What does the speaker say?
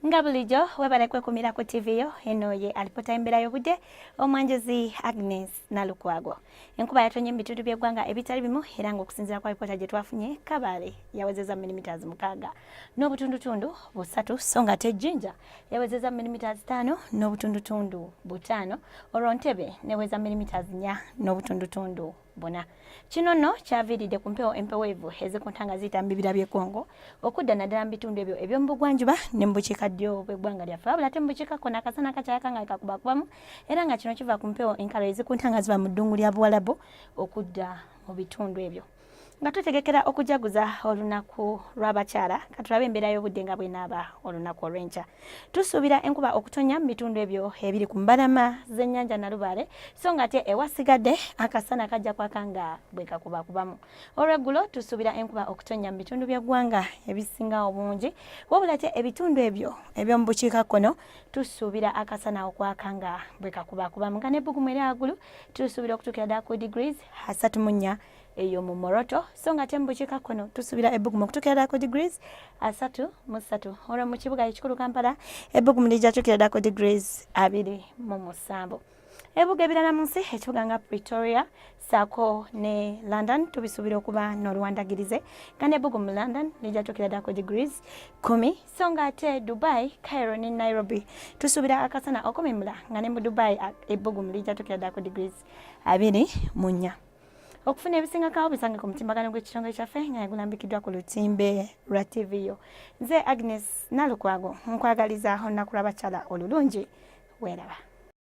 nga bulijjo webale kwekumira ku ttivi yo eno ye alipota embeera y'obudde omwanjuzi agnes nalukwago enkuba yatonye mu bitundu by'eggwanga ebitali bimu era ng'okusinziira kwa alipoota gye twafunye kabaale yawezeza milimitaazi mukaaga n'obutundutundu busatu so nga ate ejjinja yawezeza milimitaazi taano n'obutundutundu butaano olwo ntebe neweza milimitaazi nnya n'obutundutundu bona kino nno kyaviiridde ku mpewo empeweevu ezikunta nga ziyita mu bibira by'e Congo okudda naddala mu bitundu ebyo eby'omu bugwanjuba ne mu bukiikaddyo bw'eggwanga lyaffe wabula ate mu bukiikakko n'akasana kakyayaka nga kakubakubamu era nga kino kiva ku mpewo enkalo ezikunta nga ziva mu ddungu lya buwalabu okudda mu bitundu ebyo nga tutegekera okujaguza olunaku lw'abakyala katulabe embeera y'obudde nga bwenaaba olunaku olw'enkya Tusuubira enkuba okutonya mu bitundu ebyo ebiri ku mbalama z'ennyanja Nalubaale so ng'ate ewasigadde akasana kajja kwaka nga bwe kakubakubamu. Olweggulo tusuubira enkuba okutonya mu bitundu by'eggwanga ebisinga obungi wabula ate ebitundu ebyo eby'omu bukiikakkono tusuubira akasana okwaka nga bwe kakubakubamu nga n'ebbugumu eryagulu tusuubira okutuukira ddala ku degrees asatu mu nnya eyo mu moroto so nga ate mu bukiika kkono tusuubira ebbugumu okutuukira ddala ku degrees asatu mu ssatu olwo mu kibuga ekikulu kampala ebbugumu lijja tuukira ddala ku degrees abiri mu musanvu ebibuga ebirala mu nsi ekibuga nga pretoria saako ne london tubisuubira okuba n'oluwandagirize nga nebbugu mu london lijja tuukira ddala ku degrees kumi so nga ate dubai cairo ne nairobi tusuubira akasana okumimula nga ne mu dubai ebbugumu lijja tuukira ddala ku degrees abiri mu nnya okufuna ebisingakawo bisange ku mutimbagano gw'ekitongole kyaffe nga yagulambikiddwa ku lutimbe lwa tv yo nze agnes nalukwago nkwagaliza olunaku lw'abakyala olulungi weeraba